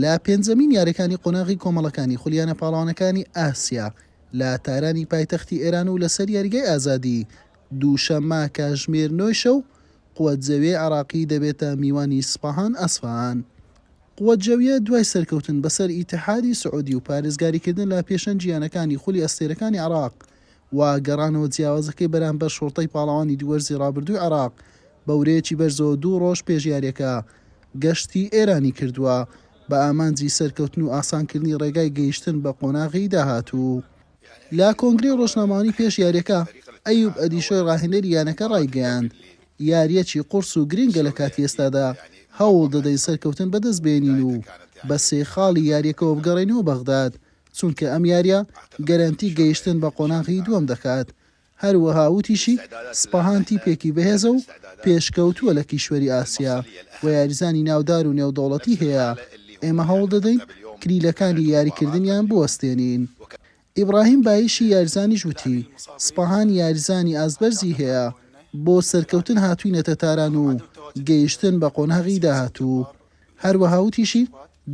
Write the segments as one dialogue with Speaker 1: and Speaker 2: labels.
Speaker 1: لە پێنجەمین یاریەکانی قۆناغی کۆمەڵەکانی خولیانە پاڵەوانەکانی ئاسیا لە تارانی پایتەختی ئێران و لەسەر یاریگای ئازادی دووشەممە کاژمێر نۆی شەو قوەت جەوێ عراقی دەبێتە میوانی سپاهان ئەسفان قوەت جەویە دوای سەرکەوتن بەسەر ئیتحادی سعودی و پارێزگاریکردن لە پێشەنجیانەکانی خولی ئەستێرەکانی عراق و گەڕانەوە جیاوازەکەی بەرامبەر شۆڕتەی پاڵەوانی دوو وەرزی رابردووی عێراق، بە ورەیەکی بەرزەوە دوو رۆژ پێش یارییەکە گەشتی ئێرانی کردووە، بە ئامانجی سەرکەوتن و ئاسانکردنی رێگای گەیشتن بە قۆناغی داهاتوو. لە کۆنگرەی رۆژنامەوانی پێش یارییەکە، ئەیوب ئەدیشۆی راهێنەری یانەکە رایگەیاند، یارییەکی قورس و گرنگە لە کاتی ئێستادا، هەوڵدەدەین سەرکەوتن بەدەستبێنین و بە سێ خاڵی یارییەکەوە بگەڕێینەوە بەغداد، چونکە ئەم یارییە گەرەنتی گەیشتن بە قۆناغی دووەم دەکات، هەروەها وتیشی، سپاهان تیپێکی بەهێزە و پێشکەوتووە لە کیشوەری ئاسیا و یاریزانی ناودار و نێودەوڵەتی هەیە، ئێمە هەوڵدەدەین کلیلەکانی یاریکردنیان بوەستێنین. ئیبراهیم بایشی یاریزانیش وتی، سپاهان یاریزانی ئاستبەرزی هەیە، بۆ سەرکەوتن هاتووینەتە تاران و گەیشتن بە قۆناغی داهاتوو هەروەها وتیشی،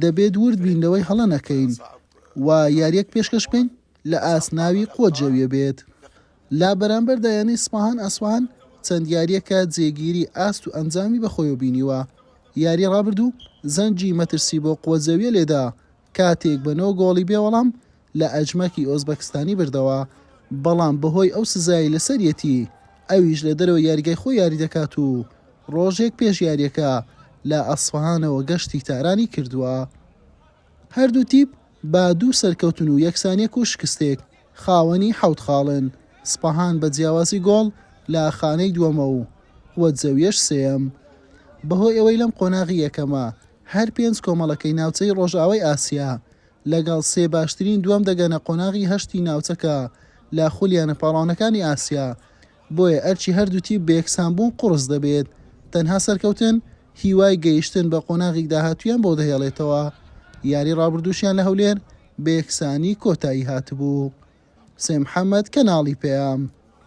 Speaker 1: دەبێت ورد بین لەوەی هەڵە نەکەین و یارییەک پێشکەش بکەین لە ئاست ناوی قوت جەویە بێت. لە بەرامبەردا یانەی سپاهان ئەسفەهان چەند یارییەکە جێگیری ئاست و ئەنجامی بەخۆیەوە بینیوە، یاری رابردوو زەنگی مەترسی بۆ قوت جەویە لێدا کاتێک بە نۆ گۆڵی بێ وەڵام لە ئەجمەکی ئۆزبەکستانی بردەوە، بەڵام بەهۆی ئەو سزایەی لەسەریەتی، ئەویش لە دەرەوەی یاریگای خۆی یاری دەکات و رۆژێک پێش یارییەکە لە ئەسفەهانەوە گەشتی تارانی کردووە. هەردوو تیپ با دوو سەرکەوتن و یەکسانییەک و شکستێک. خاوەنی حەوت خاڵن، سپەهان بە جیاوازی گۆڵ لە خانەی دووەمە و وەدزەویەش سێیەم. بەهۆی ئەوەی لەم قۆناغی یەکەمە هەر پێنج کۆمەڵەکەی ناوچەی ڕۆژئاوای ئاسیا لەگەڵ سێ باشترین دووەم دەگەنە قۆناغی هەشتی ناوچەکە لە خولییانە پاڵاوانەکانی ئاسیا، بۆیە ئەرکی هەردوو تیپ بەیەکسان بوون قوڕس دەبێت، تەنها سەرکەوتن هیوای گەیشتن بە قۆناغی داهاتوویان بۆ دەهێڵێتەوە، یاری رابردووشیان لە هەولێر بەیەکسانی کۆتایی هاتبوو. حسێن محەمەد، کەناڵی پەیام.